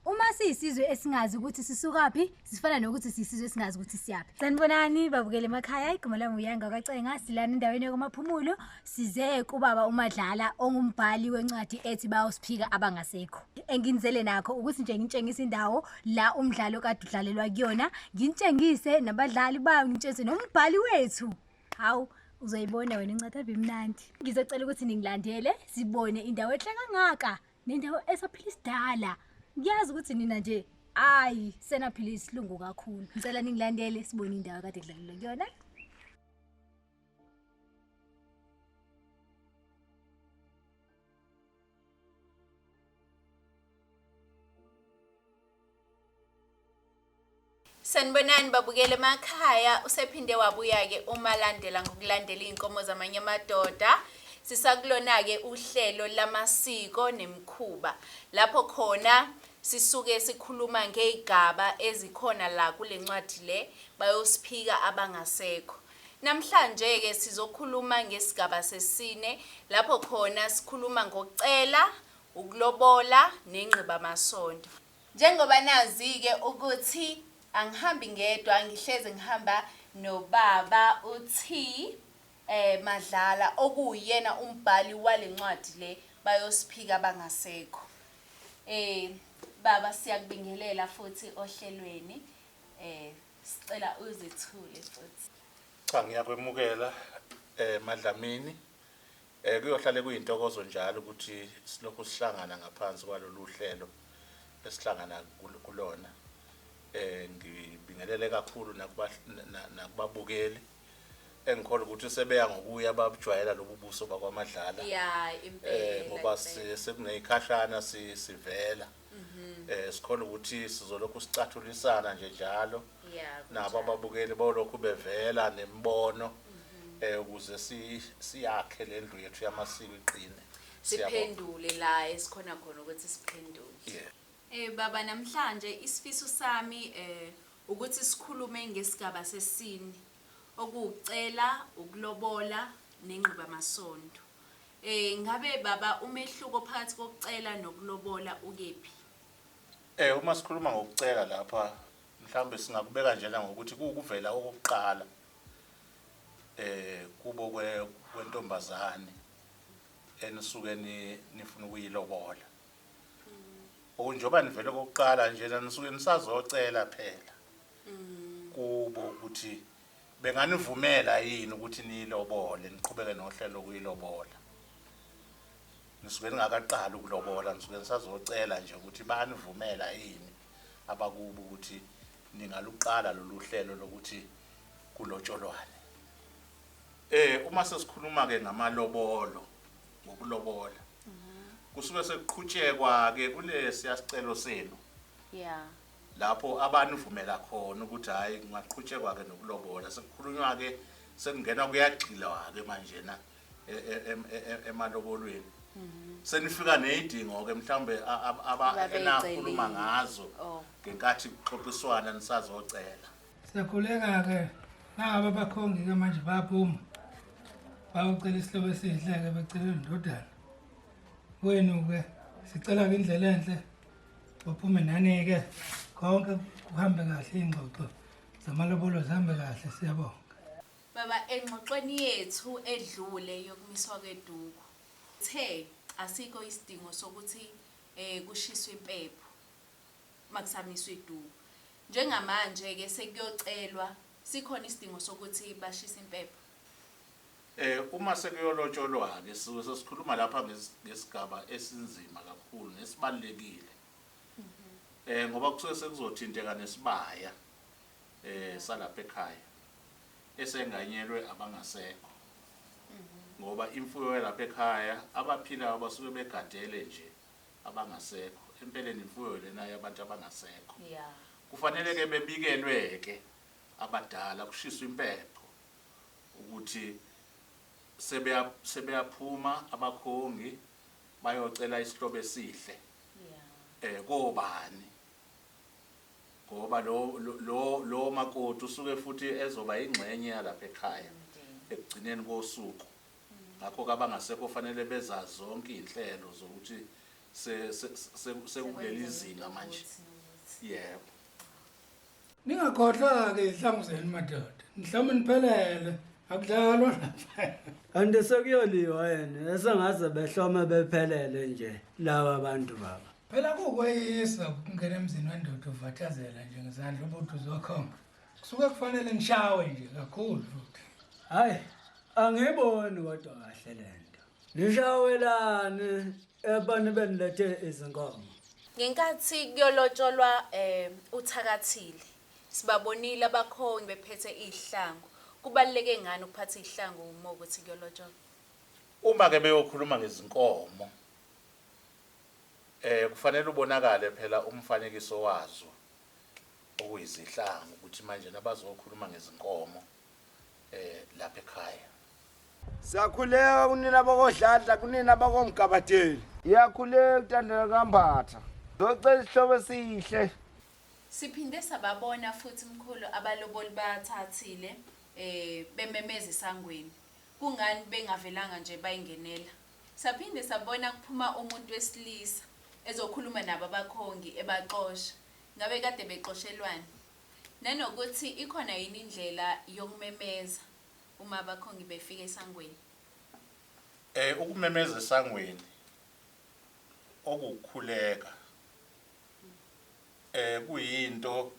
Uma siyisizwe esingazi ukuthi sisukaphi, sifana nokuthi siyisizwe esingazi ukuthi siyaphi. Sanibonani babukele emakhaya, igama lami uYanga kaCenga, silana endaweni yokumaphumulo, size kubaba uMadlala ongumbhali wencwadi ethi bawusiphika abangasekho. Enginizele nakho ukuthi nje ngintshengise indawo la umdlalo kade udlalelwa kuyona, ngintshengise nabadlali bayo, ngintshengise nombhali wethu. Hawu uzoyibona wena incwadi abimnandi. Ngizocela ukuthi ningilandele sibone indawo ehle kangaka nendawo esaphila isidala ngiyazi ukuthi nina nje ayi senaphila isilungu kakhulu ngicela ningilandele sibone indawo kade kudlalelwa kuyona Sanibonani babukele emakhaya usephinde wabuya-ke umalandela ngokulandela iy'nkomo zamanye amadoda sisakulona-ke uhlelo lamasiko nemikhuba lapho khona sisuke sikhuluma ngey'gaba ezikhona la kule ncwadi le bayosiphika abangasekho namhlanje-ke sizokhuluma ngesigaba sesine lapho khona sikhuluma ngokucela ukulobola nengqibamasonto Njengoba nazi-ke ukuthi angihambi ngedwa ngihlezi ngihamba nobaba uT. Madlala okuwuyena umbhali wale ncwadi le bayosiphika abangasekho. Baba siyakubingelela futhi ohlelweni, sicela uzethule futhi. Cha ngiyakwemukela MaDlamini. Kuyohlale kuyintokozo njalo ukuthi silokhu sihlangana ngaphansi kwalolu hlelo esihlangana kulona. Ngibingelele kakhulu nakubabukeli engikholwa ukuthi sebeya ngokuya babujwayela lobu buso bakwaMadlala ngoba sekuneyikhashana sivela. Mhm. Eh sikhona ukuthi sizolokhu sicathulisana nje njalo Yeah. nabo ababukeli bolokhu bevela nemibono Mhm. eh ukuze si siyakhe lendlu yethu yamasiko iqine. Siyabonga. Siphendule la esikhona khona ukuthi siphendule. Yeah. Eh baba namhlanje isifiso sami eh ukuthi sikhulume ngesigaba sesini okucela ukulobola nengqiba masondo. Eh ngabe baba umehluko phakathi kokucela nokulobola ukephi? Eh uma sikhuluma ngokucela lapha mhlawumbe singakubeka njena ngokuthi kuwukuvela okokuqala eh kubo kwe kwentombazane enisuke ni nifuna ukuyilobola. Okunjoba nivele okokuqala njena nisuke nisazocela phela kubo ukuthi benganivumela yini ukuthi niyilobole niqhubeke nohlelo lokuyilobola nisuke ningakaqali ukulobola nisuke nisazocela nje ukuthi banivumela yini abakubo ukuthi ningaluqala lolu hlelo lokuthi kulotsholwane eh uma sesikhuluma ke ngamalobolo ngokulobola kusuke sekuqhutshekwa ke kulesi yasicelo senu yeah lapho abanivumela khona ukuthi hhayi kungaqhutshekwa-ke nokulobola, sekukhulunywa-ke sekungenwa kuyagxilwa-ke manjena e, e, em- e- e- emalobolweni senifika ney'dingo-ke mhlawumbe a- ab- aba- Ababey'celile. enakhuluma ngazo Oh. ngenkathi kuxoxiswana nisazocela Siyakhuleka-ke naba abakhongi-ke manje bayaphuma bayocela isihlobo esihle-ke becela indodana kwenu-ke sicela-ke indlela enhle Baphume nani-ke konke kuhambe kahle iy'ngxoxo zamalobolo zihambe kahle siyabonga. Baba engxoxweni yethu edlule yokumiswa kweduku the asikho isidingo sokuthi eh kushiswe impepho makusamiswa iduku. Njengamanje ke sekuyocelwa sikhona isidingo sokuthi bashise impepho. Uma sekuyolotsholwa-ke sisuke sesikhuluma lapha ngesigaba esinzima kakhulu nesibalulekile ngoba kusuke sekuzothinteka nesibaya salapha ekhaya esenganyelwe abangasekho ngoba imfuyo yalapha ekhaya abaphilayo basuke begadele nje abangasekho. Empeleni imfuyo lena yabantu abangasekho. Kufanele-ke bebikelwe-ke abadala, kushiswe impepho. ukuthi sebeya sebeyaphuma abakhongi bayocela isihlobo esihle eh kobani ngoba lo lo lo makoti usuke futhi ezoba ingxenye yalapha ekhaya ekugcineni kosuku ngakho kabangasekho fanele bezazi zonke izinhlelo zokuthi sekuleli zinga manje yebo Ningakhohlwa-ke izihlangu zenu madoda. Mhlawumbe niphelele. Akudlalwa lapha. Kanti sekuyoliwa yena esengaze behlome bephelele nje laba bantu baba. Phela kukweyisa ukungena emzini wendoda uvathazela nje ngezandla ubuthi uzokhomba. Kusuke kufanele ngishawe nje kakhulu futhi. Hayi, angiboni kodwa kahle lento. Nishawelane Ebani benilethe izinkomo? Ngenkathi kuyolotsholwa eh uthakathile sibabonile abakhongi bephethe izihlangu. Kubaluleke ngani ukuphatha izihlangu uma ukuthi kuyolotsholwa? Uma ke beyokhuluma ngezinkomo eh kufanele ubonakale phela umfanekiso wazo okuyizihlangu ukuthi manje nabazokhuluma ngezinkomo eh lapha ekhaya Siyakhuleka kunina bakodladla kunina bakomgabadeli Iyakhuleka utandela kambatha Ngocela isihlobo esihle Siphinde sababona futhi mkhulu abaloboli bathathile eh bememeza esangweni kungani bengavelanga nje bayingenela Saphinde sabona kuphuma umuntu wesilisa ezokhuluma nabo abakhongi ebaxosha ngabe kade bexoshelwani Nanokuthi ikhona yini indlela yokumemeza uma abakhongi befika esangweni? Eh ukumemeza esangweni okuwukukhuleka eh kuyinto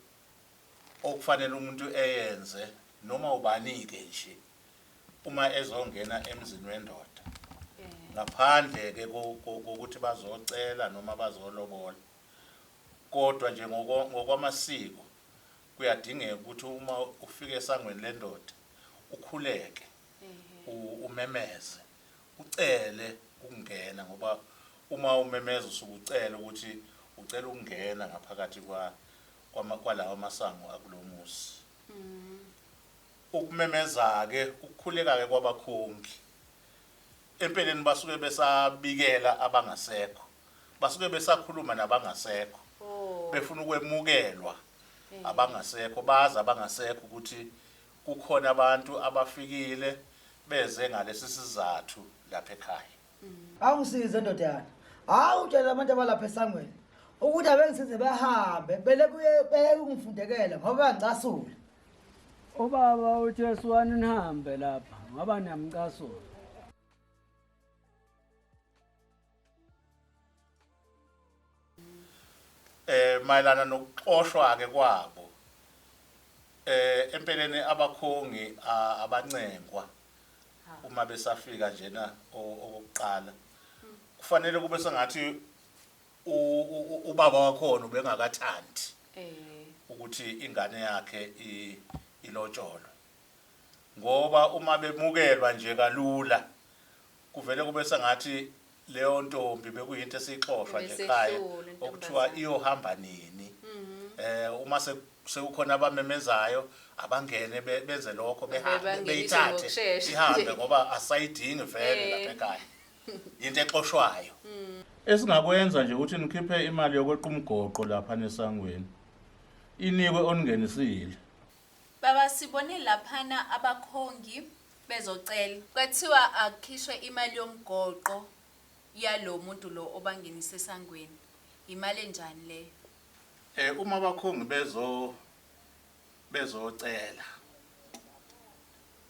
okufanele umuntu eyenze noma ubanike nje uma ezongena emzini wendoda ngaphandle ke kokuthi bazocela noma bazolobola. Kodwa nje ngokwamasiko kuyadingeka ukuthi uma ufika esangweni lendoda ukhuleke umemeze ucele ukungena ngoba uma umemeza usuke ucela ukuthi ucela ukungena ngaphakathi kwalawa masango akulo muzi. Ukumemeza-ke ukukhuleka-ke kwabakhongi. Empeleni basuke besabikela abangasekho. Basuke besakhuluma nabangasekho. Oh. Befuna ukwemukelwa eh. abangasekho bazi abangasekho ukuthi kukhona abantu abafikile beze ngalesi sizathu lapha ekhaya. Mm. Awungisize ndodana. Hawu utshela abantu abalapha esangweni ukuthi abengisize bahambe bele kuye beyekungifundekela ngoba ngicasule. Ubaba uJesu wani nihambe lapha ngoba niyamcasula. eh mayelana nokuxoshwa ke kwabo eh empeleni abakhongi a- abancengwa uma besafika njena o- okokuqala kufanele kube sengathi ubaba wakhona ubengakathandi ukuthi ingane yakhe ilotsholwe ngoba uma bemukelwa nje kalula kuvele kube sengathi leyo ntombi bekuyinto esixoshwa nje ekhaya okuthiwa iyohamba nini mhm. eh uma sekukhona abamemezayo abangene benze lokho behambe beyithathe ihambe ngoba asayidingi vele lapha ekhaya yinto exoshwayo esingakwenza nje ukuthi nikhiphe imali yokweqa umgoqo lapha nesangweni inikwe oningenisile Baba sibone laphana abakhongi bezocela. Kwathiwa akukhishwe imali yomgoqo yalo muntu lo obangenisa esangweni. Yimali enjani leyo? eh uma abakhongi bezo bezocela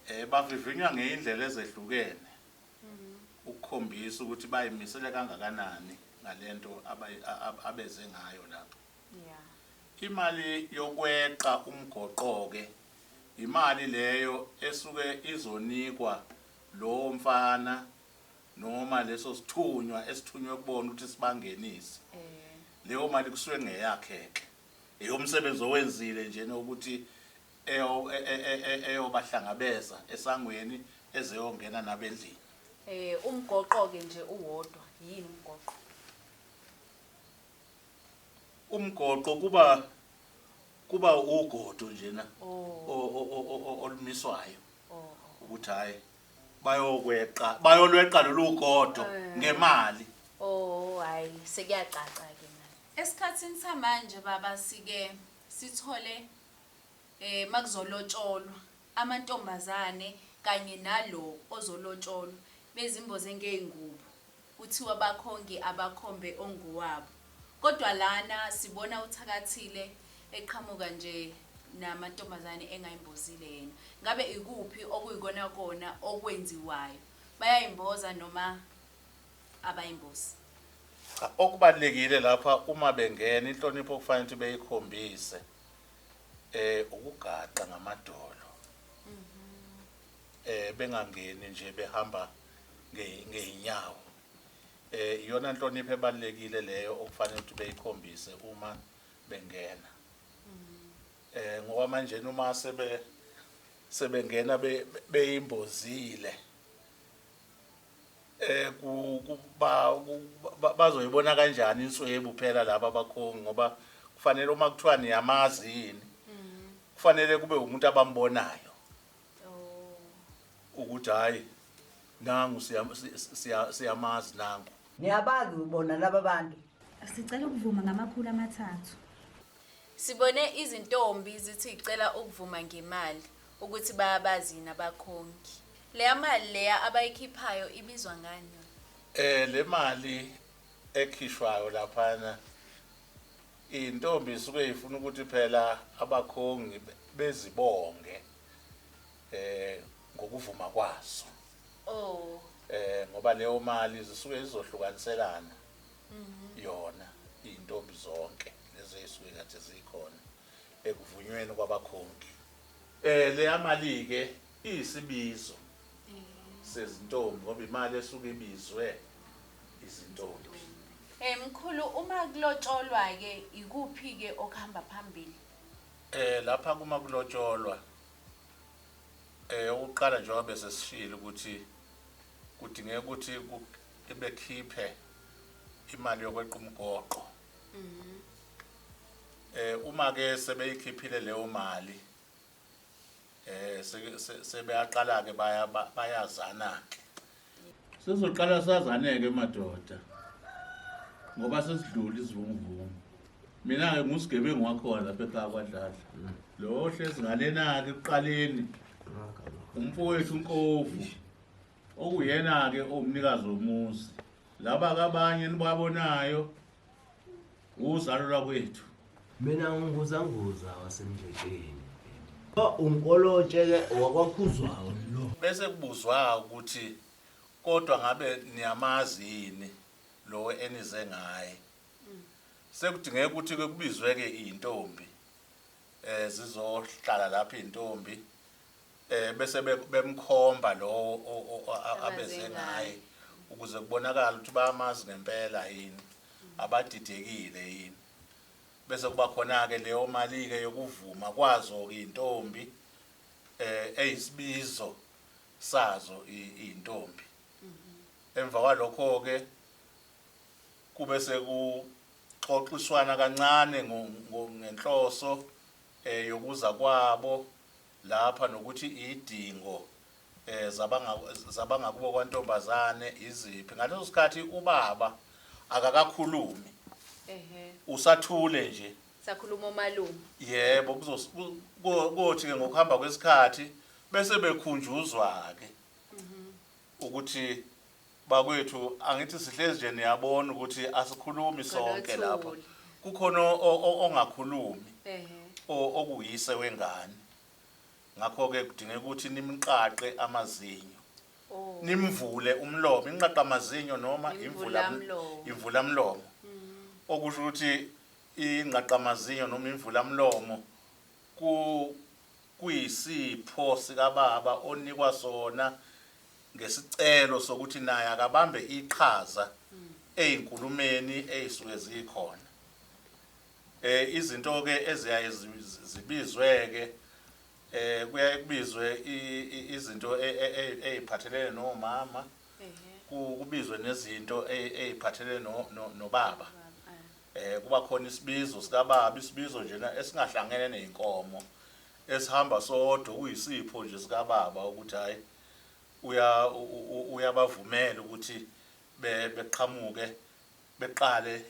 eh bavivinywa ngeindlela ezehlukene ukukhombisa ukuthi bayimisele kangakanani ngalento abeze ngayo lapho imali yokweqa umgoqoke imali leyo esuke izonikwa lowo mfana noma leso sithunywa esithunywe kubona ukuthi sibangenise eh. leyo mali kusuke ngeyakhe-ke eyomsebenzi owenzile njena ukuthi eyobahlangabeza esangweni ezeyongena nabo endlini. Eh umgoqo-ke nje uwodwa, yini umgoqo? Umgoqo kuba kuba ugodo njena oh. olumiswayo oh, oh. ukuthi hayi bayokweqa bayolweqa lolu godo eh. ngemali. Oh hayi sekuyacaca ke manje. Esikhathini samanje baba sike sithole makuzolotsholwa amantombazane kanye nalo ozolotsholwa bezimboze ngey'ngubo kuthiwa bakhongi abakhombe ongowabo kodwa lana sibona uThakathile eqhamuka nje namantombazane engayimbozile yena. Ngabe ikuphi okuyikona kona okwenziwayo? Bayayimboza noma abayimbozi? Cha okubalulekile lapha uma bengena inhlonipho okufanele ukuthi beyikhombise. eh ukugaqa ngamadolo eh bengangeni nje behamba nge- ngeyinyawo eh iyona nhlonipho ebalekile leyo okufanele ukuthi beyikhombise uma bengena eh ngoba manje uma sebe sebengena be- be- beyimbozile eh bazoyibona kanjani inswebu phela laba bakhongi ngoba kufanele uma kuthiwa niyamazi yini mm. kufanele kube umuntu abambonayo oh. ukuthi hayi nangu siyamazi nangu niyabazi ubona laba bantu sicela ukuvuma ngamakhulu amathathu sibone izintombi zithi icela ukuvuma ngemali ukuthi bayabazi yini abakhongi. Leya mali leya abayikhiphayo ibizwa ngani yona? Eh le mali ekhishwayo laphana intombi isuke ifuna ukuthi phela abakhongi bezibonge eh ngokuvuma kwazo. Oh. Eh ngoba leyo mali zisuke izohlukaniselana. Mhm. Yona intombi zonke lezi ezisuke kade zikhona. ekuvunyweni kwabakhongi. Eh leya mali ke iyisibizo sezintombi ngoba imali esuke ibizwe izintombi. Eh mkhulu uma kulotsholwa ke ikuphi ke okuhamba phambili? Eh lapha kuma kulotsholwa eh ukuqala njengoba bese sishilo ukuthi kudingeka ukuthi bekhiphe imali yokweqa umgoqo. Mhm. Eh uma ke sebeyikhiphile leyo mali eh sebeyaqala ke baya bayazana ke. Sizoqala sazaneke madoda. Ngoba sesidlula izivunguvungu. Mina ke ngusigebengu wakhona lapha ekhaya kwadlala. Mm. Lo hlezi ngalena ke kuqaleni. Umfowethu uNkovu. okuyena-ke owumnikazi womuzi laba kabanye enibabonayo uzalo lwakwethu mina nginguzanguza wasemdledleni unkolotshe-ke wakwakhuzwayo lo bese kubuzwa ukuthi kodwa ngabe niyamazi yini lo enize ngaye sekudingeka ukuthi-ke kubizwe-ke iy'ntombi um zizohlala lapho iy'ntombi eh bese bemkhomba lowo abeze ngaye ukuze kubonakala ukuthi bayamazi ngempela yini abadidekile yini bese kuba khona-ke leyo mali-ke yokuvuma kwazo-ke iy'ntombi eh eyisibizo sazo iy'ntombi mhm. emva kwalokho-ke kube sekuxoxiswana kancane ngenhloso yokuza kwabo lapha nokuthi idingo zabangakubo kwantombazane iziphi ngaleso sikhathi ubaba akakakhulumi usathule nje sakhuluma omalume yebo kuzothi ke ngokuhamba kwesikhathi bese bekhunjuzwa ke mhm. ukuthi Bakwethu angithi sihlezi nje niyabona ukuthi asikhulumi sonke lapha. Kukhona ongakhulumi okuyise wengane. Ngakho ke kudingeka ukuthi nimqaqe amazinyo. Oh. Nimvule umlomo, inqaqa amazinyo noma imvula imvula mlomo. Mm. Okusho ukuthi inqaqa amazinyo noma imvula mlomo ku kuyisipho sikababa onikwa sona ngesicelo sokuthi naye akabambe iqhaza ezinkulumeni ezisuke zikhona eh izinto ke eziyaye zibizwe ke eh kuyaye kubizwe izinto eziphathelene nomama kubizwe nezinto eziphathelene nobaba eh kuba khona isibizo sikababa isibizo njena esingahlangene nezinkomo esihamba sodwa kuyisipho nje sikababa ukuthi hayi uyabavumela ukuthi beqhamuke beqale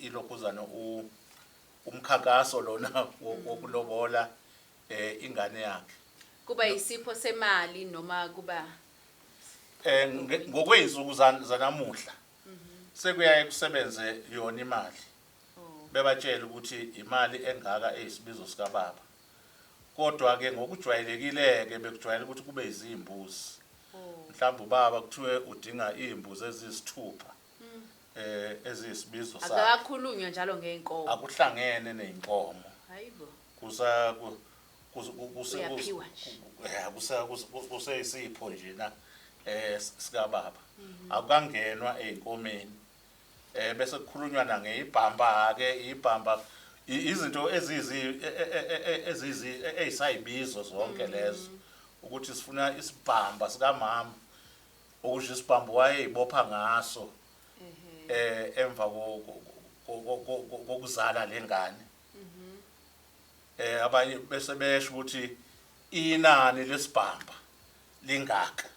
ilokhuzana umkhankaso lona wokulobola ingane yakhe kuba yisipho semali noma kuba eh ngokwezinsuku zanamuhla sekuyaye kusebenze yona imali oh. bebatshela ukuthi imali engaka eyisibizo sikababa Kodwa-ke ngokujwayelekile-ke bekujwayele ukuthi kube izimbuzi. Mhlawumbe ubaba kuthiwe udinga izimbuzi eziyisithupha eziyisibizo sakhe. Akakakhulunywa njalo ngey'nkomo. Akuhlangene ney'nkomo. Hhayi bo. Kusa, kusa, kusa, Uyaphiwa nje. Ya, kusa, kusa, kusa, kuseyisipho njena sikaBaba. Akukangenwa ey'nkomeni. eh bese kukhulunywa na ngeibhamba ke ibhamba izinto ezizi e, e, e, ezizi ezisayibizo zonke mm. lezo ukuthi sifuna isibhamba sikamama okusho isibhambo wayeyibopha ngaso mm-hmm. eh emva kokuzala lengane mm-hmm. eh abanye bese besho ukuthi inani lesibhamba lingaka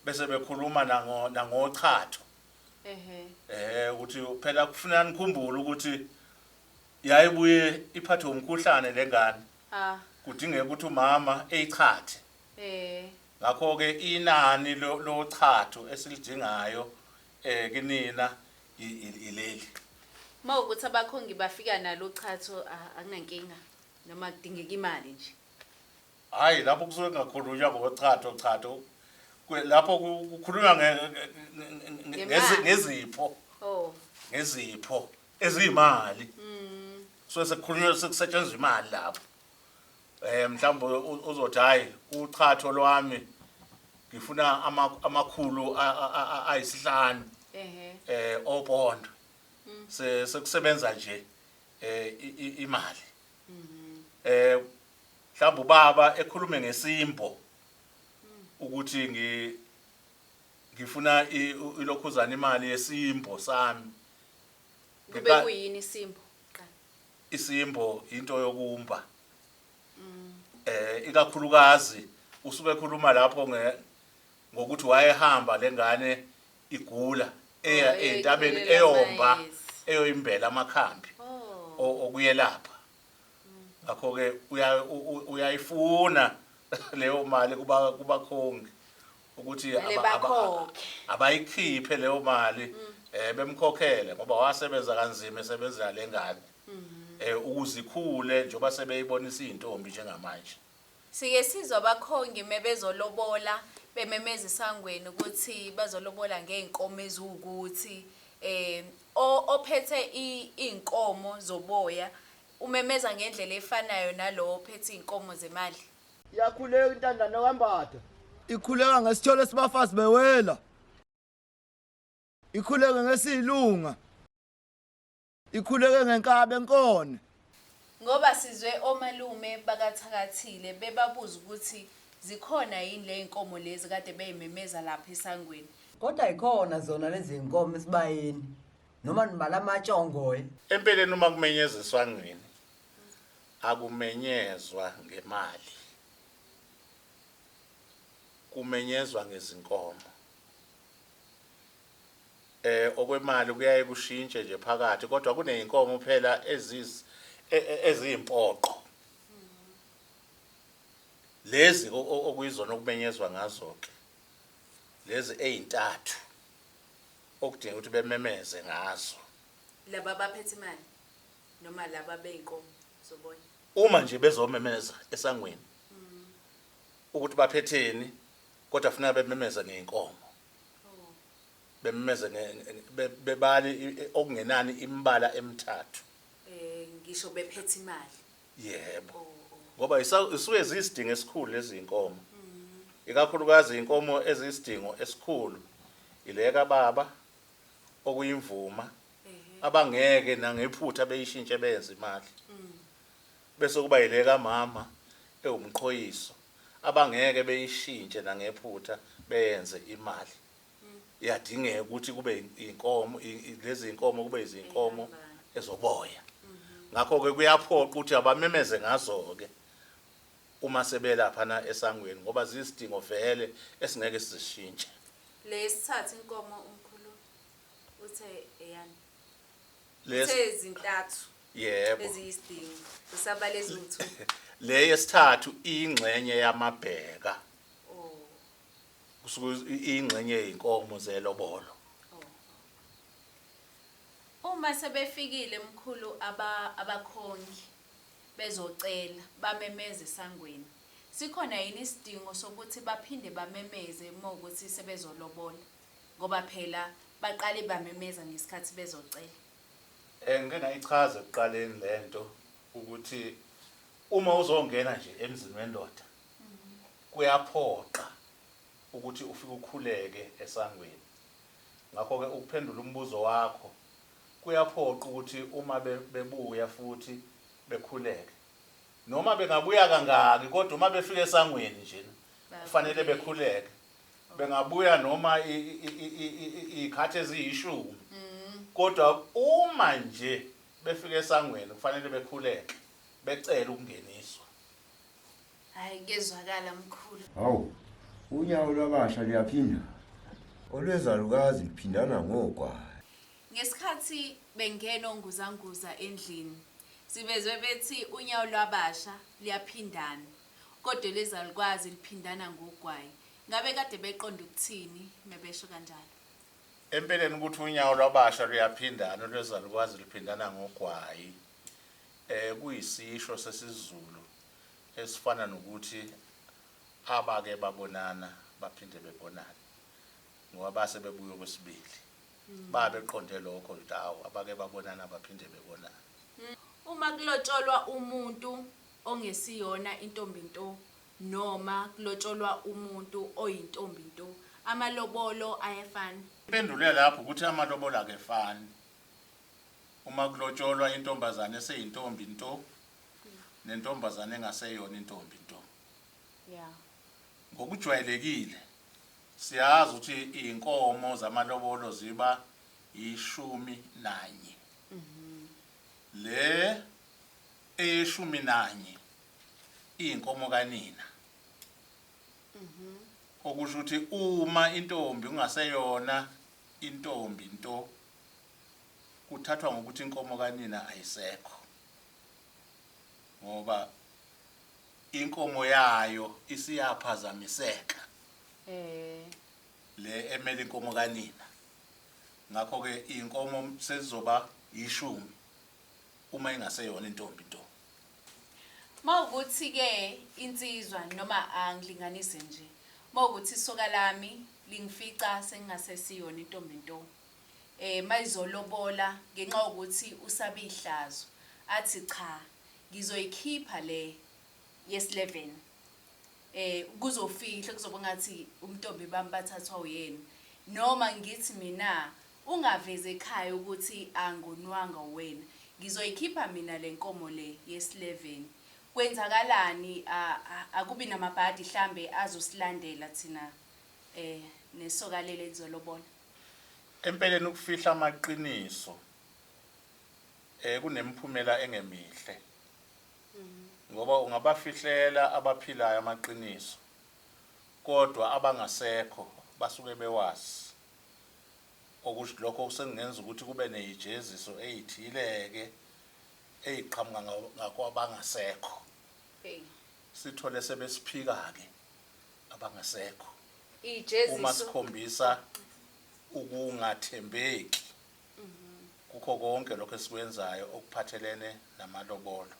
bese bekhuluma nango nangochatho ehe eh ukuthi phela kufuneka nikhumbule ukuthi yayibuye iphathwe umkhuhlane lengane ah kudingeka ukuthi umama eyichathe eh ngakho ke inani lo- lochatho esilidingayo eh kinina i- i- ileli uma ukuthi abakhongi bafika nalo chatho ah, anginankinga noma kudingeka imali nje Hhayi, lapho kusuke kungakhulunywa ngochatho chatho Kwe- lapho ku- kukhulunywa nge- nge- nge- nge- nge- Ngemali. ngezi- ngezipho Oh. ngezipho eziyimali kusuke sekukhulunywa sekusetshenzwa imali lapho um mhlawumbe u- uzothi hhayi uchatho lwami ngifuna ama- amakhulu a- a- a- a- ayisihlanu Ehhe. eh opondo se sekusebenza nje eh i- i- imali eh Mhlawumbe ubaba ekhulume ngesimbo ukuthi ngi ngifuna ilokhuzana imali yesimbo sami. Kube kuyini isimbo? Isimbo into yokumba. Mm. Eh ikakhulukazi usuke ekhuluma lapho nge ngokuthi wayehamba lengane igula eya oh, entabeni eyomba eyoyimbela amakhambi oh. okuyelapha ngakho ke uyayifuna leyo mali kuba kubakhongi ukuthi abayikhiphe leyo mali mm. eh bemkhokhele ngoba wasebenza kanzima esebenzela lengane mhm. eh ukuzikhule njengoba sebeyibonisa izintombi njengamanje Sike sizwe abakhongi mebezolobola bememeza esangweni ukuthi bazolobola ngey'nkomo eziwukuthi um ophethe iy'nkomo zoboya umemeza ngendlela efanayo nalowo ophethe iy'nkomo zemali. Iyakhuleka intandane kaMbatha. Ikhuleka ngesithole sibafazi bewela. Ikhuleke ngesiyilunga. Ikhuleke ngenkabe nkone. Ngoba sizwe omalume bakathakathile bebabuza ukuthi zikhona yini ley'nkomo lezi kade bey'memeza lapha esangweni. Kodwa yikhona zona lezinkomo esibayeni noma nibala amatshongoye. Empeleni uma kumenyeza eswangweni akumenyezwa ngemali. Kumenyezwa ngezinkomo. eh okwemali kuyaye kushintshe nje phakathi kodwa kuneyinkomo phela eziz e, e, eziyimpoqo lezi okuyizona okumenyezwa ngazo ke lezi ezintathu okudinga ukuthi bememeze ngazo laba baphethe imali noma laba beyinkomo zobona uma nje bezomemeza esangweni mm. ukuthi baphetheni kodwa funeka bememeza ngeyinkomo bemmeze bebale okungenani imbala emithathu eh ngisho bephethe imali yebo oh, oh. ngoba isuke ziyisidingo esikhulu lezi inkomo mm. ikakhulukazi inkomo eziyisidingo esikhulu ileka baba okuyimvuma abangeke nangephutha beyishintshe benze imali mm. Bese kuba yile kamama ewumqhoyiso abangeke beyishintshe nangephutha beyenze imali. Iyadingeka ukuthi kube inkomo lezi inkomo kube izinkomo ezoboya. Ngakho ke kuyaphoqa ukuthi abamemeze ngazo ke uma sebelapha na esangweni ngoba ziyisidingo vele esingeke sizishintshe. Lesithathu inkomo umkhulu uthe eyani. Les- Uthe zintathu yebo eziyisidingo. Usabale lutho. le yesithathu ingxenye yamabheka Oh. kusuke i- ingxenye yey'nkomo zelobolo Uma sebefikile mkhulu aba abakhongi bezocela bamemeze sangweni. Sikhona yini isidingo sokuthi baphinde bamemeze uma ukuthi sebezolobola? ngoba phela baqale bamemeza ngesikhathi bezocela. Eh ngike ngayichaza ekuqaleni lento ukuthi uma uzongena nje emzini wendoda kuyaphoqa ukuthi ufike ukhuleke esangweni. Ngakho ke ukuphendula umbuzo wakho kuyaphoqa ukuthi uma bebuya futhi bekhuleke noma bengabuya kangaki kodwa uma befika esangweni njena kufanele bekhuleke. bengabuya noma iy'khathi eziyishumi mm. kodwa uma nje befika esangweni kufanele bekhuleke becele ukungeniswa hayi kezwakala mkhulu hawu unyawo lwabasha luyaphinda olwezalukazi luphindana ngogwayi ngesikhathi bengena onguzanguza endlini sivezwe bethi unyawo lwabasha luyaphindana kodwa lezalukwazi liphindana ngogwayi Ngabe kade beqonde ukuthini mebesho kanjalo? Empeleni ukuthi unyawo lwabasha luyaphindana olwezalukazi luphindana ngogwayi eh kuyisisho sesiZulu esifana nokuthi abake babonana baphinde bebonane ngoba base bebuya okwesibili hmm. babeqonde lokho ukuthi awu abake babonana baphinde bebonane hmm. uma kulotsholwa umuntu ongesiyona intombi nto noma kulotsholwa umuntu oyintombi nto amalobolo ayafana? Impendulo yalapho ukuthi amalobolo akefani uma kulotsholwa intombazane eseyintombi nto nentombazane engaseyona intombi nto. Yeah. Ngokujwayelekile siyazi ukuthi iy'nkomo zamalobolo ziba yishumi nanye. Le eyeshumi nanye iyinkomo kanina mhm. okusho ukuthi uma intombi ungaseyona intombi nto kuthathwa ngokuthi inkomo kanina ayisekho ngoba inkomo yayo isiyaphazamiseka eh le emele inkomo kanina ngakho ke inkomo selizoba yishumi Uma ingaseyona intombi nto. Mawukuthi-ke insizwa noma angilinganise nje, mawukuthi isoka lami lingifica sengingasesiyona intombi nto, eh mayizolobola ngenxa yokuthi usabe ihlazo, athi cha ngizoyikhipha le yesi-11 eh kuzofihlwa kuzobe kungathi ubuntombi bami bathathwa uyena, noma ngithi mina Ungavezi ekhaya ukuthi angonwanga uwena. Ngizoyikhipha mina lenkomo le yesileveni. Kwenzakalani a akubi namabhadi hlambe azosilandela thina e nesoka leli elizolobola. Empeleni ukufihla amaqiniso e kunemiphumela engemihle. Ngoba ungabafihlela abaphilayo amaqiniso kodwa abangasekho basuke bewazi. okush lokho sekungenza ukuthi kube neyijeziso eyithile-ke eyiqhamuka nga, ngakwabangasekho. Eyi. Sithole sebesiphika-ke abangasekho uma Ijeziso. sikhombisa ukungathembeki kukho konke lokho esikwenzayo okuphathelene namalobolo.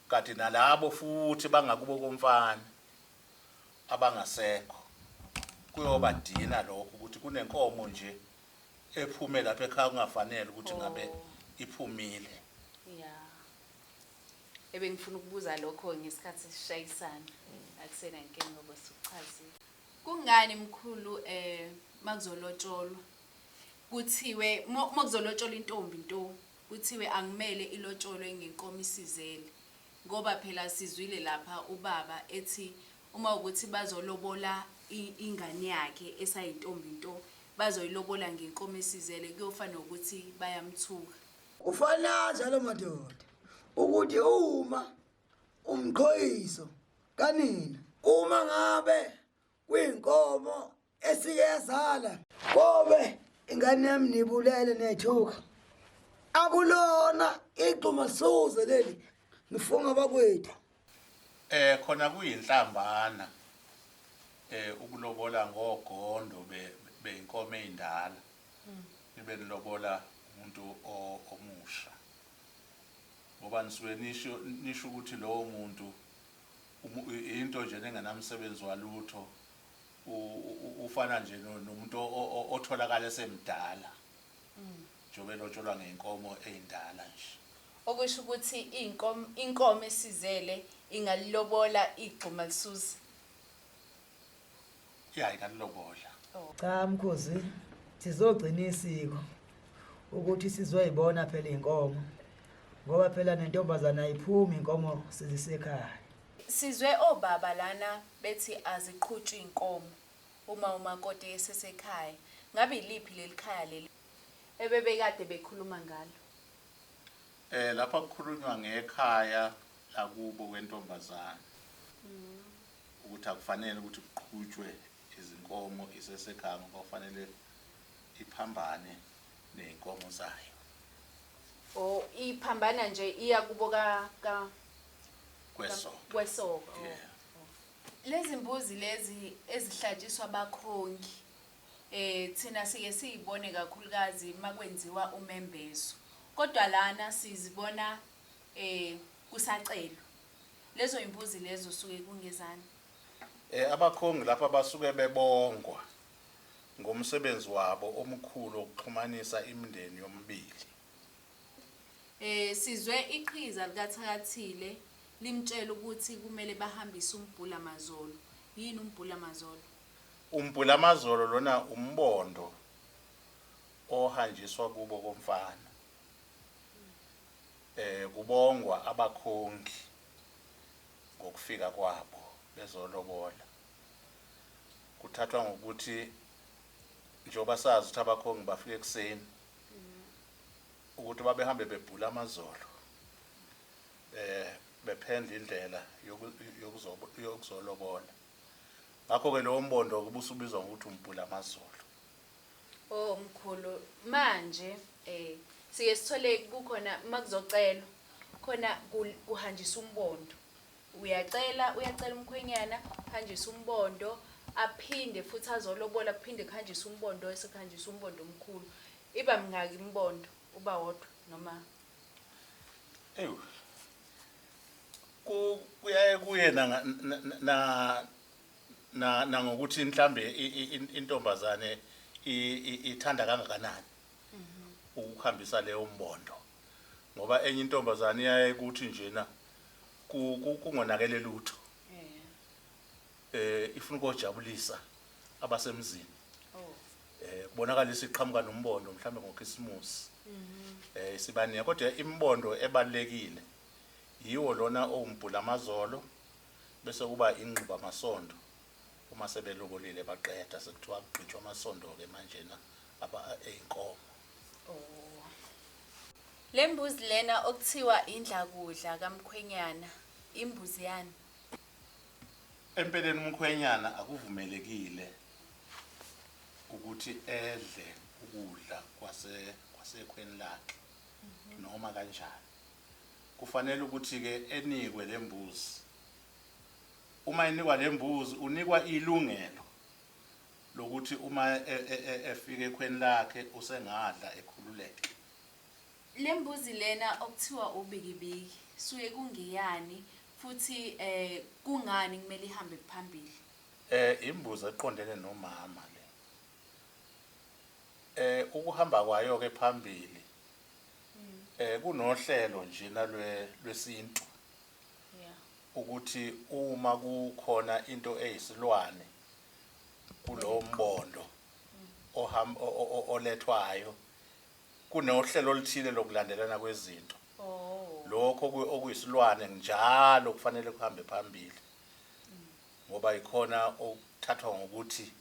Kanti nalabo futhi bangakubo komfana abangasekho kuyoba dina lokho ukuthi kunenkomo nje ephume lapha ekhaya kungafanele ukuthi ngabe oh. iphumile ya ebengifuna ukubuza lokho ngesikhathi sishayisana akusena nkinga ngoba sukuchazile kungani mkhulu eh makuzolotsholwa kuthiwe makuzolotsholwa intombi nto Kuthiwe angimele ilotsholwe ngenkomo isizele ngoba phela sizwile lapha ubaba ethi uma ukuthi bazolobola ingane yakhe esayintombi nto bazoyilobola ngenkomo esizele kuyofa nokuthi bayamthuka. Ufanazi alo madoda ukuthi uma umqhoyiso kanina uma ngabe kwinkomo esike yazala kobe ingane yami nibulele nethuka akulona igxuma suze leli ngifunga bakwethu eh khona kuyinhlambana eh ukulobola ngogondo beyinkomo endala hmm. nibe nilobola umuntu omusha ngoba nisuke nisho nisho ukuthi lowo muntu into nje nengenamsebenzi walutho ufana nje nomuntu otholakala esemdala mm. njengoba elotsholwa ngey'nkomo ey'ndala nje okusho ukuthi inkomo esizele ingalilobola igxuma lisuze ya ingalilobola oh. cha mkhozi sizogcina isiko ukuthi sizoyibona phela iy'nkomo ngoba phela nentombazane ayiphumi inkomo sizisekhaya Sizwe obaba lana bethi aziqhutshwa iy'nkomo uma umakoti esesekhaya. Ngabe yiliphi leli khaya leli ebebekade bekhuluma ngalo? Eh lapha kukhulunywa ngekhaya lakubo kwentombazane ukuthi akufanele ukuthi kuqhutshwe izinkomo isesekhaya ngoba kufanele iphambane ney'nkomo zayo. Oh iphambana nje iya kubo ka ka. kwesonto kwesonto yeah. lezi mbuzi lezi ezihlatshiswa abakhongi eh thina siye siyibone kakhulukazi makwenziwa umembezo kodwa lana sizibona eh kusacelwa lezo imbuzi lezo suke kungezani eh abakhongi lapha basuke bebongwa ngomsebenzi wabo omkhulu okuxhumanisa imindeni yomibili Eh sizwe iqhiza likaThakathile limtshela ukuthi kumele bahambise uMbhula Mazolo. Yini uMbhula Mazolo? UMbhula Mazolo lona umbondo ohanjiswa kubo komfana. Eh kubongwa abakhongi ngokufika kwabo bezolobola. Kuthathwa ngokuthi njengoba sazi ukuthi abakhongi bafika ekuseni ukuthi babehambe bebhula amazolo eh bephendla indlela yokuzolobola ngakho-ke lowo mbondo-ke ubusubizwa ngokuthi umbhula amazolo o oh, mkhulu manje um siye sithole kukhona uma kuzocelwa khona kuhanjiswa umbondo uyacela uyacela umkhwenyana hanjiswa umbondo aphinde futhi azolobola kuphinde kuhanjiswe umbondo esekuhanjiswa umbondo omkhulu Iba mingaki imibondo uba wodwa noma? Ewu. Ku kuyaye kuye na na na nangokuthi mhlambe intombazane ithanda kangakanani mhm. ukuhambisa leyo mbondo ngoba enye intombazane iyaye kuthi njena kungonakele lutho eh ifuna ukojabulisa abasemzini oh. eh kubonakala isiqhamuka nombondo mhlambe ngokhisimusi eh isibaniya kodwa imbondo ebalekile yiwo lona owumbhula amazolo bese kuba ingquba amasondo uma sebelobolile baqeda sekuthiwa kugqitshwa amasondo ke manje na aba einkomo Lembuzi lena okuthiwa indlakudla kamkhwenyana imbuzi yani Empeleni umkhwenyana akuvumelekile ukuthi edle ukudla kwase kwasekhweni lakhe noma kanjani. Kufanele ukuthi ke enikwe lembuzi. Uma enikwa lembuzi unikwa ilungelo lokuthi uma e- e- e- efika ekhweni lakhe usengadla ekhululeke. Lembuzi lena okuthiwa ubikibiki suke kungeyani futhi kungani kumele ihambe phambili? Imbuzi eqondene nomama le. Ukuhamba kwayo ke phambili kunohlelo njena lwesintu ukuthi uma kukhona into eyisilwane kulowo mbondo olethwayo Kunohlelo oluthile lokulandelana kwezinto. Lokho oku- okuyisilwane njalo kufanele kuhambe phambili ngoba yikhona okuthathwa ngokuthi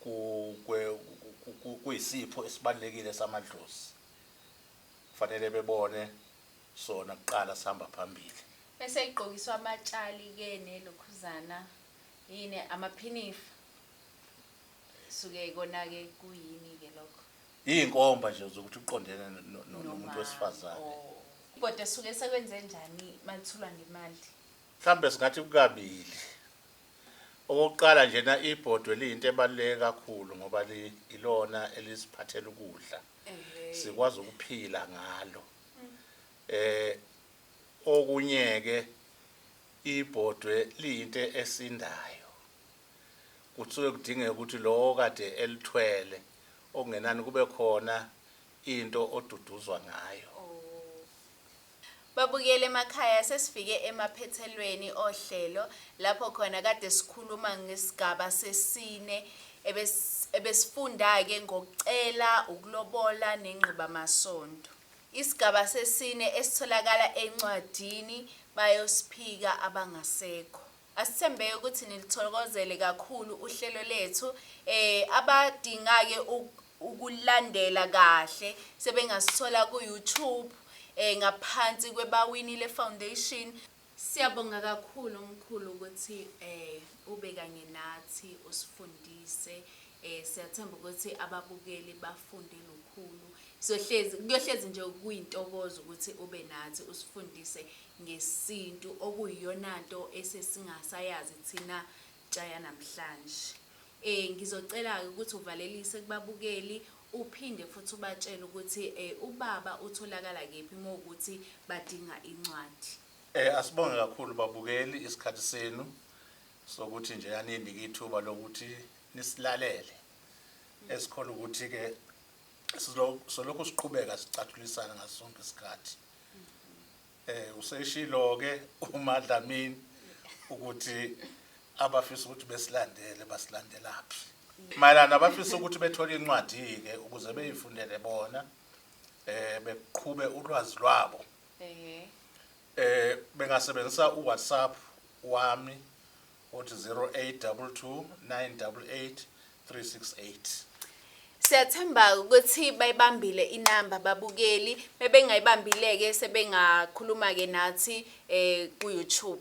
ku- kwe- ku- ku- ku- kuyisipho esibalulekile samadlozi. Kufanele bebone sona kuqala sihamba phambili. Bese igqokiswa amatshali ke nelokhuzana yini amaphinifa suke kona ke kuyini ke lokho Iyinkomba nje zokuthi uqondene no- no- no- nomuntu wesifazane. Oh. Kodwa esuke sekwenze njani malithulwa ngemali? Mhlawumbe singathi kukabili. Okokuqala njena ibhodwe liyinto ebaluleke kakhulu ngoba li- ilona elisiphathela ukudla. Ehhe. Sikwazi ukuphila ngalo. Eh okunye ke ibhodwe liyinto esindayo. Kusuke kudingeka ukuthi lowo okade elithwele okungenani kube khona into oduduzwa ngayo. Babukeli emakhaya sesifike emaphethelweni ohlelo lapho khona kade sikhuluma ngesigaba sesine ebesifunda-ke ngokucela, ukulobola nengqibamasondo. Isigaba sesine esitholakala encwadini bayosiphika abangasekho. Asithembeke ukuthi niluthokozele kakhulu uhlelo lethu. Eh abadingake ukulandela kahle sebengasithola ku YouTube eh ngaphansi kwebawinile foundation. Siyabonga kakhulu mkhulu ukuthi eh ube kanye nathi usifundise eh siyathemba ukuthi ababukeli bafunde lukhulu sohlezi kuyohlezi nje kuyintokozo ukuthi ube nathi usifundise ngesintu okuyiyonanto esesingasayazi thina ntsha yanamhlanje. Ngizocela-ke ukuthi uvalelise kubabukeli uphinde futhi ubatshele ukuthi ubaba utholakala kephi uma kuwukuthi badinga incwadi. Asibonge kakhulu babukeli isikhathi senu sokuthi nje aninike ithuba lokuthi nisilalele esikholwa ukuthi-ke solokhu siqhubeka sicathulisana ngaso sonke isikhathi. Eh useshilo ke uMadlamini ukuthi abafisa ukuthi besilandele basilandelaphi. Mayelana abafisa ukuthi bethole incwadi ke ukuze beyifundele bona eh beqhube ulwazi lwabo. Eh. Eh bengasebenzisa uWhatsApp wami Uthi 0822988368. Siyathemba ukuthi bayibambile inamba babukeli bebengayibambile-ke sebengakhuluma-ke nathi um ku-youtube